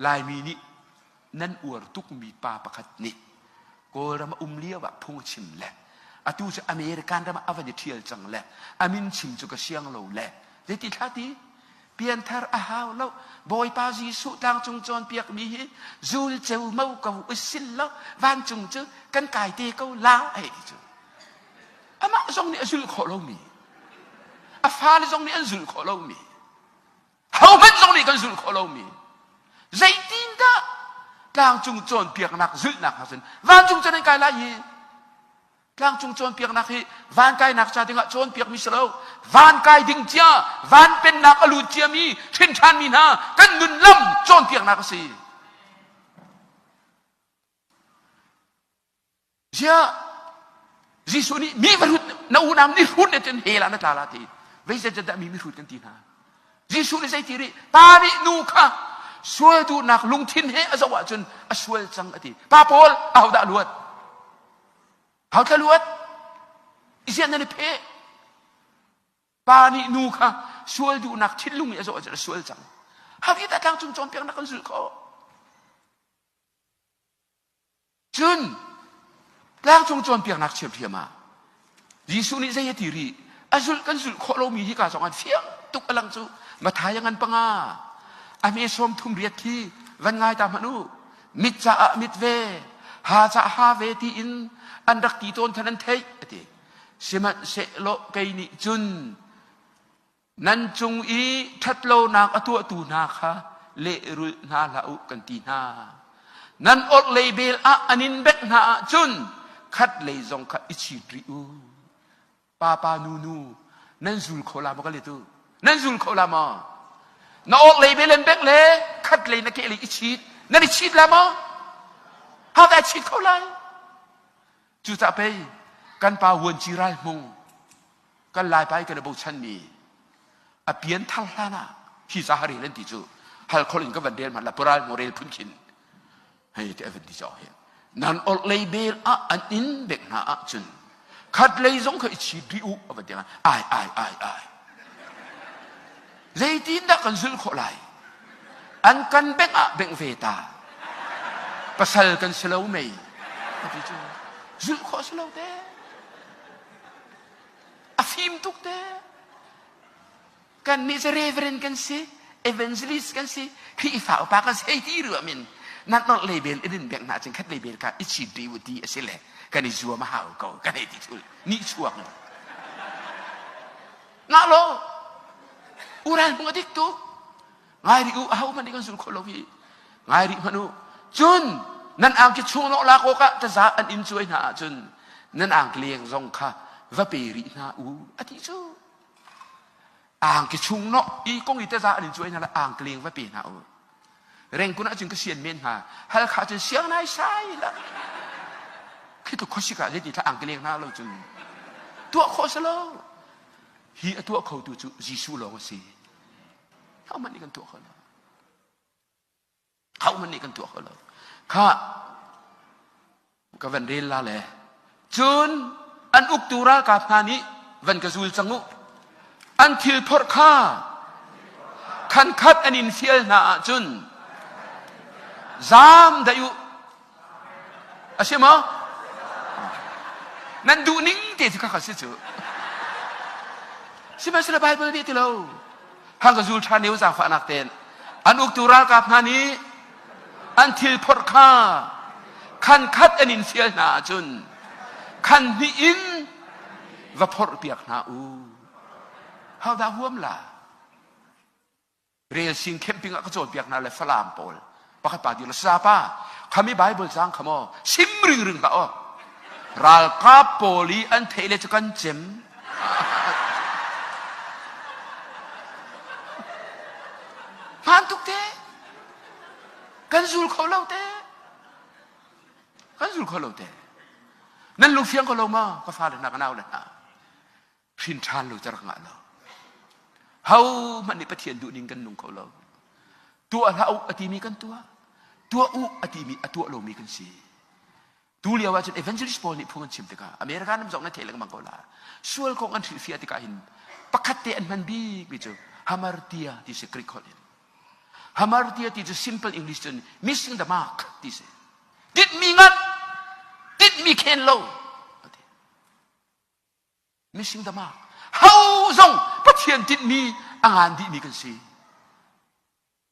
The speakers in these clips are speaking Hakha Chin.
Laimi nih nan uar tukmi pa pakhat nih Kawlram a um lio ah phung a chim le atu cu American ram ah a van i ṭhial cang le a min chim cu ka siang lo le zeiti thlati pianthar a hau lo bawipa jesuh tlangcung cawnpiakmi hi zul ceu mo ko usil lo vancung cu kan kai te ko la ai cu amah zong nih a zul khawh lomi a fale zong nih an zul khawh lomi Hohmanh zong nih kan zulh khawh lomi zeitindah tlangcung cawnpiaknak zulhnak hnga cun vancung cun an kai lai hi tlangcung cawnpiaknak hi van kainak ca dingah cawnpiakmi si lo van kai ding cia van pennak a lut ciami hrinthanmi hna kan nun lam cawnpiaknak a si Ziah Jesuh nih mi va hrut na unam ni hrut le cun hela na tla la ti vei zeicahdah mi mihrut kan ti hna Jesuh nih zei ti rih pa nih nu kha sual duhnak lungthin he a zoh ahcun a sual cang a ti pa paul ahodah luat hau tla luat i ziah nan i phe pa nih nu kha sual duhnak thinlung i a zoh ahcun a sual cang hakhi dah tlang cung cawnpiaknak kan zulh khawh Cun tlangcung cawnpiaknak ṭhiamṭhiam ah Jesuh nih zei a ti rih? A zulh kan zulh khawh lomi hika zongah fiang tuk a lang cu Matthai a ngan panga, a hme sawm thum riat khi van ngai ta hmanh u. Mit caah mit ve, ha caah ha ve tiin an rak ti tawn khan an theih, a ti. Sihmanhsehlaw kei nih cun nan cung i ṭhatlonak a tuahtu hna kha lehrulh hna hlah u kan ti hna. Nan orhlei vel ah an in bek hna ahcun khat lei zong kha i chit rih u. Papa nu nu nan zul kho la maw ka letu? Nan zul kho la maw? Na orhlei vel an bek le khat lei na kehlei i chit nan i chit la maw? How I chit kho lai? Cucah pei kan pa Vuanci Ral Hmung, kan Laipa i kan i bochanmi a pian thar hlan ah hi ca ha rel an ti cu hal khol in ka van rel ma la pural mu rel phun chin hei ti a van ti cawk hi nan orh lei bel ah an in bek hna ah cun khat lei zong kha i chit rih u a van ti ai ai ai ai Zeitindah kan zulh khawh lai? An kan bengh ah bengh ve ta. Pasal kan si lo mei? Ka ti cu zulh khawh si lo te. A fim tuk te. Kannih cu reverend kan si, evangelist kan si, Khrihfa upa kan si, hei ti ruam in nan orh le bel in in bengh hna cun khat le bel ka i cit ve u ti a si le kan i zuam a hau ko kan hei ti tul. Nih chuak mu. ngah lo u ral bu a dik tuk ngai rih u a ho hmanh nih kan zul kho lo hi ngai rih hmanh u cun nan ang ki chung lawh lak awk ah taza an in cuai hna ahcun nan ang leng zong kha va pe rih hna u a ti cu ang ki chung no i kong i taza an in cuai hna le ang leng va pe hna u Rengkun ahcun ka sian men hna. Halkha cun siang nai sai la. Khi tluk khuasik ah zeiti thla ang ka leng hna lo cun tuah khawh si lo. Hi a tuah khotu cu Jesuh lawng a si. Hohmanh nih kan tuah kho lo. Hohmanh nih kan tuah kho lo. Kha ka van rel la le cun an uktu ralkap hna nih van ka zul cang u an thil phorh kha khan khat an in fial hna ahcun zaam daih u a si maw nan duh ning te ti kha si cu sihmanhsehlaw Baibal nih ti lo hang ka zul ṭhan i zaangfahnak ten an uktu ralkap hna nih an thil phorh kha khan khat an in fial hna ahcun khan hnih in va phorh piak hna u how da huam la rel sing camping ah ka cawnpiak hna le falam pawl pakhat pa dir sa pa khami bible sang kha maw sim ring ring ba o ralkap pawl i an thei le cu kan cem hman tuk te kan zul kho lo te kan zul kho lo te nan lu fiang ko lo ma ka fale na ka nau le hna hrin ṭhan lo cer ngah lo ho hmanh nih pathian duh ning kan nung kho lo tuah hlah u a timi kan tuah tuah u a timi a tuah lomi kan si Tu lio ahcun evangelist pawl nih phung an chim tikah America nam zong nan theih lengmang ko la. Sual kong an hrilhfiah tikah hin pakhat te an hman bikmi cu hamartia ti si Greek holh in. Hamartia ti cu simple English cun missing the mark ti si. Tinhmi ngat, tinhmi khen lo. Missing the mark. Ho zong Pathian tinhmi a ngan dihmi kan si.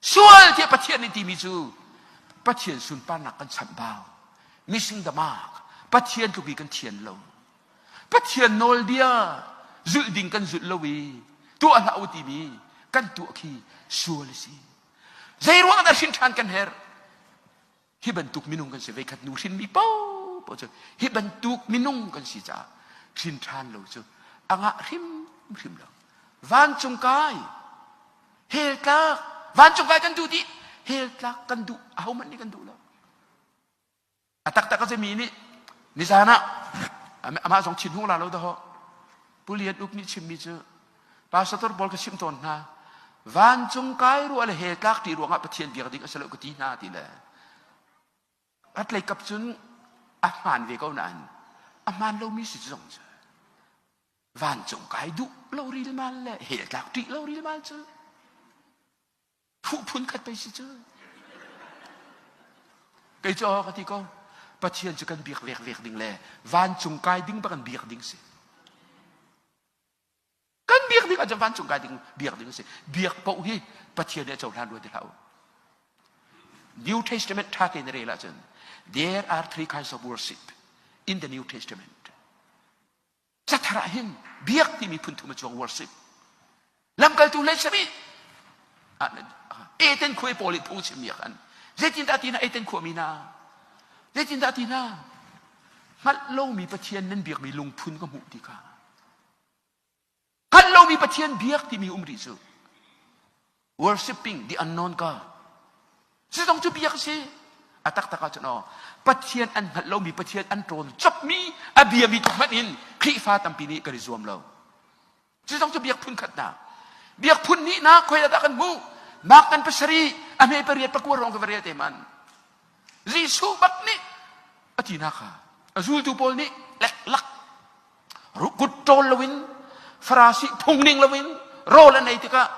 sual tiah Pathian nih timi cu Pathian sunparnak kan chambau missing the mark Pathian tluk i kan thian lo Pathian nawlbia zulh ding kan zulh lo i tuah hlah u timi kan tuah khi sual a si zei ruang dah hrin ṭhan kan herh Hi bantuk minung kan si veikhat nu hrinmi popo cu hi bantuk minung kan si caah hrin ṭhan lo cu a ngah hrimhrim lo. Vancung kai hel tlak vancung kai kan duh dih hel tlak kan duh a hohmanh nih kan duh lo. A taktak a simi nih nizan ah amah zong thin hung la lo dahawh Pu Lian Up nih chimmi cu Pastor Tor Bawl ka chimh tawn hna, vancung kai ruah le he tlak ṭi ruangah Pathian biak ding a si lo ka ti hna ti le ratlei kap cun a hmaan ve ko nain a hmaan lomi si zong cu vancung kai duh lo rilmal le he tlak ṭih lo rilmal cu Phuh phun khat pei si cu. Kei cu ka ti ko. Pathian cu kan biak vekvek ding le vancung kai ding bak in biak ding si. Kan biak ding ahcun vancung kai ding biak ding si. Biak paoh hi Pathian nih a cohlan rua ti hlah u. New Testament tha ke na rel ahcun there are three kinds of worship in the New Testament. Cathar ah hin biak timi phunthum a chuak worship lamkaltu le chim i eten khua paul i phung chim miak an zeitindah ti na eten khua mi na zeitindah ti na hngalh lomi pathian nan biakmi lungphun ka hmuh ti kha hngalh lomi pathian biak timi um rih cu worshiping the unknown God. Cu zong cu biak a si. A taktak ah cun aw, Pathian an hngalh lomi, Pathian an ṭawn chapmi, a biami tluk hmanh in Khrihfa tampi nih kan i zuam lo. Cu zong cu biak phun khatnak. Biak phun hnihnak khoi ah dah kan hmuh? Mark kan pasarih, a hme pariat pakua rong ka va rel te man. Jesuh bak nih a tinak kha a zultu pawl nih leklak rukut ṭawl loin farasi phung ning loin rawl an ei tikah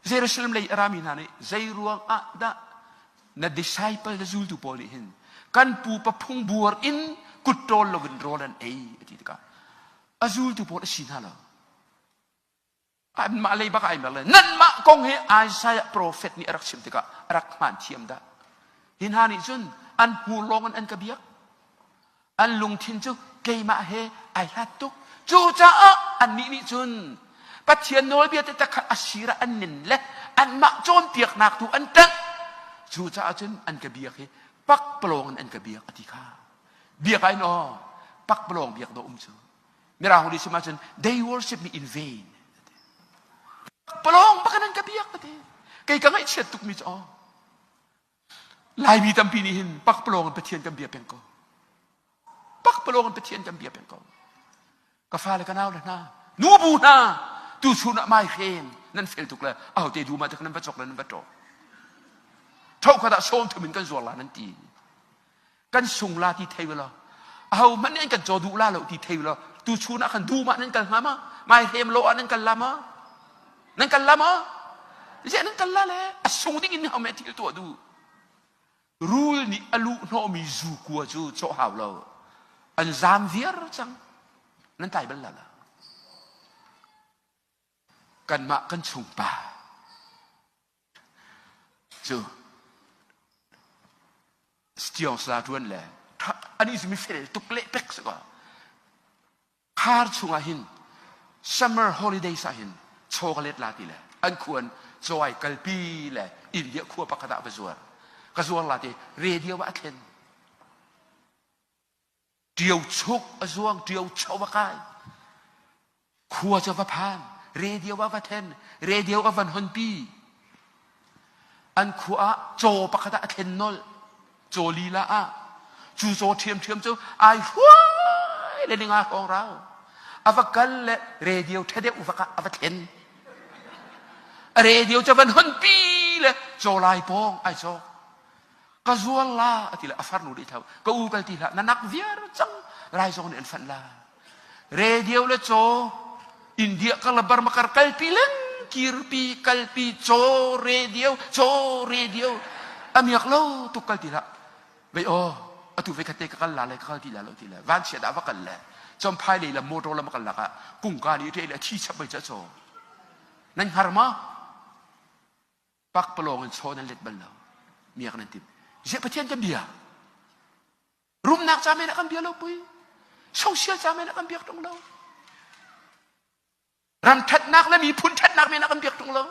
Jerusalem lei a rami hna nih zeiruang ah dah na disciple na zultu pawl nih hin kan pupa phung buar in kut ṭawl loin rawl an ei a ti tikah a zultu pawl a si hna lo anmah lei bak ai mer le nanmah kong hi Isaiah profet nih a rak chim tikah a rak hmaan thiam dah. Hi hna nih cun an hmur lawngin an ka biak. An lungthin cu keimah he ai hlat tuk. Cucaah annih nih cun Pathian nawlbia tete kha a sir ah an nin le anmah cawnpiaknak tu an ṭanh. Cucaah cun an ka biak i pakpalawng in an ka biak a ti kha. Biak ai naw pakpalawng biak dawh um cu. Mirang uli sim ahcun they worship me in vain. Palawng baka nan ka biak ka te. Kei ka ngaihchiat tukmi cu oh. Laimi tampi nih hin pakpalawng in Pathian kan bia peng ko. Pakpalawng in Pathian kan bia peng ko. Ka fale ka nau le hna, nu bu hna, tu chun ah mai khen nan fel tuk le au te du ma tak nan va chok le nan va tro. Tho khat ah sawm thumin kan zuar la nan ti. kan sung la ti thei lo ho hmanh nih an kan caw duh la lo ti thei lo tu chun ah khan dum ah nan kal hnga ma mai hem lo ah nan kal la ma nan kal la ma je nan kal la le a sung ding in home thil tuah du rul nih a lu hnawmi zu kua cu cawh hau lo an zam viar cang nan tai bal la la kanmah kan chung pa cu Sitiosa ṭuan le an i simi fel tuk le pek si kaw khar chungah hin summer holidays ah hin chaw ka let la ti le an khuan cawai kalpi le india khua pakhat ah va zuar ka zuar la ti radio ah a thlen ṭio chuk a zuang ṭio cho va kai khua cu va phan radio ah va then radio ah van honpi an khua ah caw pakhat ah a thlen nolh caw lila ah cu caw ṭhiamṭhiam cu ai huai le ninga hong rau a va kal le radio ṭhadeuh va ka a va thlen a radio cu van honpi le caw lai pong ai cawk ka zual la a ti le a farnu rih thau ka u kal ti hlah na nak viar cang lai zong nih an fanh la radio le caw india ka labar makar kalpi len kirpi kalpi caw radio caw radio amiak lo tuk kal ti lah vei o atu vei kate ka kal la le ka kal ti la lo ti le van chia da va kal le chom phai le la motor la makal laka kung ka ni te le thi chap bai cha chaw nan har ma pakpalawng in chaw nan let bal lo miak nan tim ziah pathian kan bia rumnak ca men ah kan bia lo pui social ca men ah kan biak tung lo ram ṭhatnak le miphun ṭhatnak men ah kan biak tung lo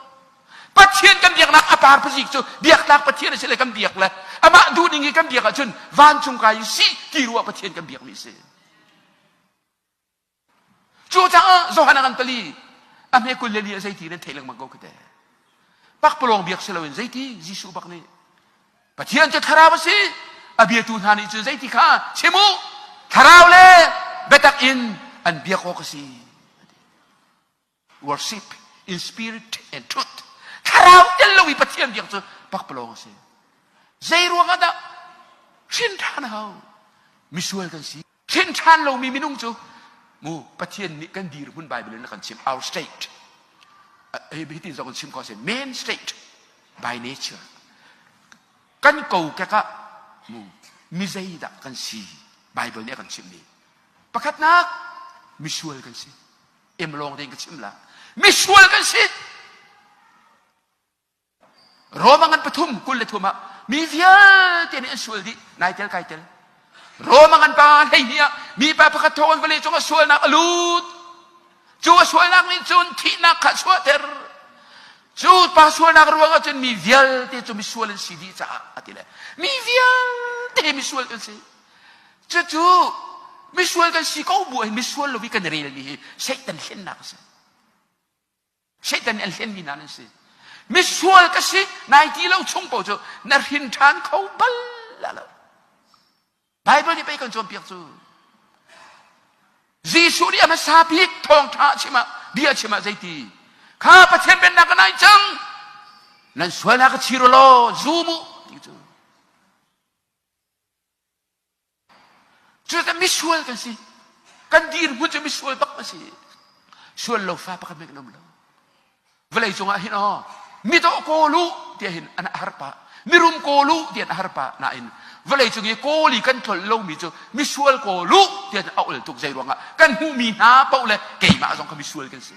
pathian kan biaknak a par pazik cu biaknak pathian a si le kan biak le amah duh ning i kan biak ahcun vancung kai si ti ruah pathian kan biakmi a si Cu caah Johan a kan pali a hme kul le li ah zeiti nan theih lengmang ko khi te. Pakpalawng biak si loin zeiti Jesuh bak nih Pathian cu thlarau a si a biatu hna nih cun zeiti kha chim u thlarau le biatak in an biak awk a si. worship in spirit and truth thlarau tel lo i pathian biak cu pakpalawng a si zei ruang ah dah hrin ṭhan hau misual kan si hrin ṭhan lomi minung cu mu pathian nih kan dirhmun bible in a kan chim our state hitin zong in chim ko a si main state by nature kan kokek ah mu mi zeidah kan si bible nih a kan chimhmi pakhatnak misual kan si Im lawng ding ka chim la. Misual kan si. Roma ngan pathum kul le thum ah mi vialte nih an sual dih nai tel kai tel. Roma ngan pa hlei ni ah mi pa pakhat thawng vale cung a sualnak a lut. Cu a sualnak nih cun thihnak kha suahter. Cu pa sualnak ruang ah cun mi vialte cu misual an si dih caah a ti le mi vialte misual an si. Cucu misual kan si ko bu in misual lo i kan relmi hi Satan hlennak a si. Satan nih an hlenmi hna nan si. Misual ka si nai ti lo chung paoh cu na hrin ṭhan kho bal lo. Baibal nih pei kan cawnpiak cu. Jesuh nih a hmasa bik thawngṭha a chim ah bia a chim ah zeiti? Kha Pathian pennak ka nai cang. Nan sualnak ka chir u law zum u ti cu. Cucaah misual kan si. Kan dirhmun cu misual bak a si. Sual lo fa pakhat meh nam lo. Vawlei cungah hin oh, mitaw kawl u tiah hin an har pah. Mirum kawl u tiah an har pah. Nain vawlei cung i kawl i kan tlol lomi cu misual kawl u tiah a ul tuk. Zei ruangah kan hmuhmi hna paoh le keimah zong kha misual kan si.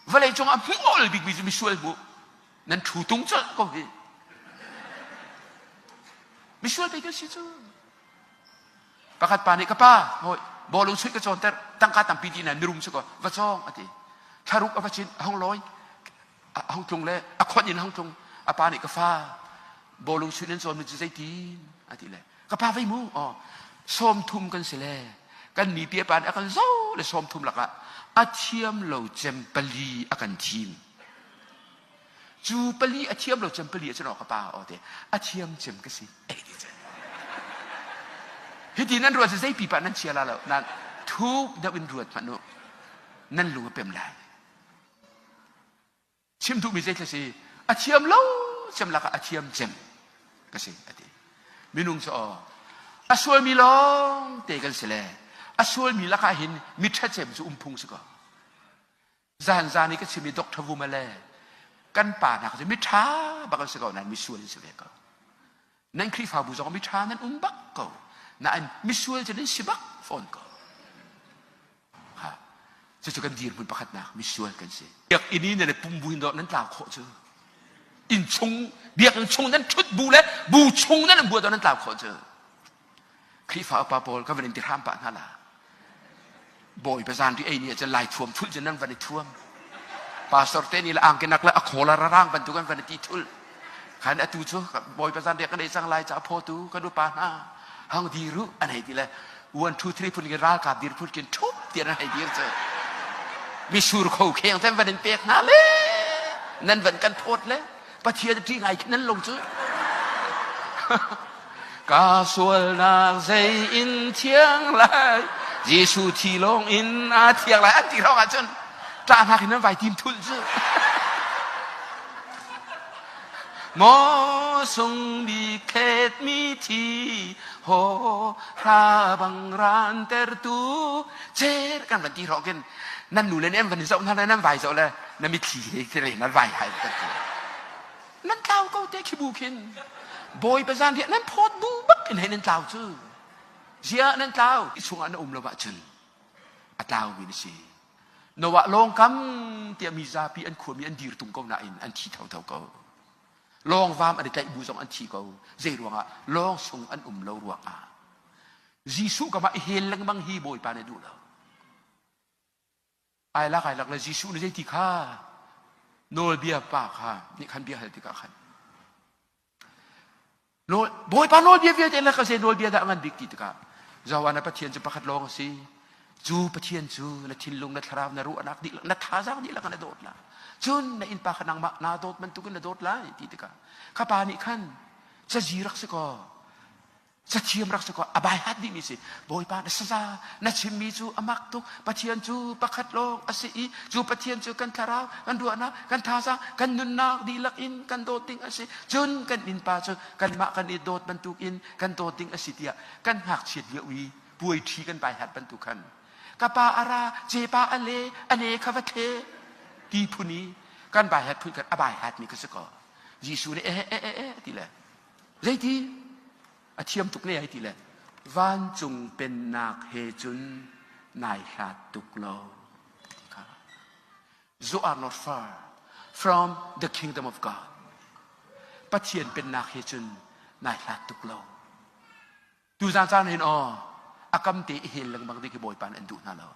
Vawleicung ah hmual bikmi cu misual hmu. Nan ṭhu tung colh ko hi. Misual pei kan si cu. Pakhat pa nih ka pa, hoi, bawlung chuih ka cawnter, tangka tampi ti na mirum cu ko, va cawng a ti. Thlaruk a va cin, a hung lawi, a hung tlung le a khawnh in hung tlung. A pa nih ka fa, bawlung chuih nan cawn mi cu zei tin? a ti le, ka pa vei mu aw sawmthum kan si le kan mi pipa nih a kan zo le sawmthum lakah a thiam lo cem pali a kan thim cu pali a thiam lo cem pali a cun ka pa aw te a thiam cem ka si ei ti cen hitin nan ruat zei pipa nan chia la lo nan thuk deuh in ruat hmanh u nan lu a pem lai chim duhmi zeitlai si a thiam lo cem lakah a thiam cem ka si a ti minung cu aw a sualmi lawng te kan si le a sualmi lakah hin mi ṭhatcem cu umphung si ko zan zan i ka chimmi Dr. Vuma le kan pa nak cu mi ṭha bak an si ko nain mi sual an si ve ko Nan Khrihfabu zong miṭha nan um bak ko. Nain misual cu nan si bak fawn ko. Ha. Cucu kan dirhmun pakhatnak misual kan si. Biakinn i nan i pum buin dawh nan tlau khawh cu. Inn chung, biakinn chung nan ṭhut bu le bu chung nan buat dawh nan tlau khawh cu. Khrihfa upa pawl ka van in tihram pah hna la. Bawi bazan ri ei ni ahcun lai thuam thulh cun nan van i thuam. Pastor te nih la angkenak le a khawl a rarang bantuk an van i ti thulh. Khan atu cu bawi bazan ri kan ei cang lai ca photu kan upa hna hang dir u an hei ti le one two three phun ki ralkap dir phun kin thup tian an hei dir cu misur kho kheng ten van in pek hna le nan van kan phawt le Pathian ṭih ngai khi nan lung cu. Ka sualnak zei in thiang lai Jesuh thi lawng in a thiang lai an ti lawng ahcun ṭahnak in nan vai tim thul cu maw sung bi khet mi thi ho ra bang ran tertu cer kan van ti rong kin nan nu le nih an van zoh hna le nan vai zoh le na mitthli he kere na vai hai ka ti nan tlau ko te khi bu khin bawi bazan he nan phot bu bak in he nan tlau cu zia nan tlau i chung ah na um lo ba cun a tlau mi na si noah lawng kam tia mi zapi an khua mi an dir tung ko na in an thi tho tho ko lawng vam an i tlaih bu zong an thi ko zei ruang ah lawng chung an um lo ruang ah Jesuh kama i hel lengmang hi bawipa ne duh lo ai lak ai lak le Jesuh nih zei ti kha nawlbia pa kha nih khan bia hal tikah khan Bawipa nawlbia vialte le ka zei nawlbia dah ngan bik ti tikah Zoan a Pathian cu pakhat lawng a si cu Pathian cu na thinlung na thlarau na ruahnak dihlak na thazaang dihlak na dawt la cun na innpa kha nangmah naa dawt bantukin na dawt lai ti tikah ka pa nih khan cazi rak si kaw cathiam rak si ko a bai hat dihmi si bawipa na saza na chimmi cu a mak tuk pathian cu pakhat lawng a si i cu pathian cu kan thlarau kan ruahnak kan thazaang kan nunnak dihlak in kan dawt ding a si cun kan innpa cu kanmah kan i dawt bantuk in kan dawt ding a si tiah kan ngakchiat lio i puaiṭhi kan bai hat bantuk khan ka pa a ra cepa a le a ne kha va tle ti phuni kan bai hat phun khan a bai hatmi ka si ko jesuh nih eh eh eh eh ti le Zeiti a thiam tuk ne ai ti le vancung pennak he cun nai hlat tuk lo. Zohar not far from the kingdom of God. Pathian pennak he cun nai hlat tuk lo. Tuzan caan hen aw a kam te i hel lengmang ding hi Bawipa nih an duh hna lo.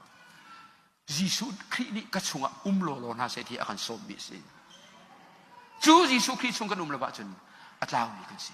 Jesuh Khrih nih ka chungah um lawlaw hna seh ti a kan sawmmi a si. Cu Jesuh Khrih chung kan um lo ahcun a tlaumi kan si.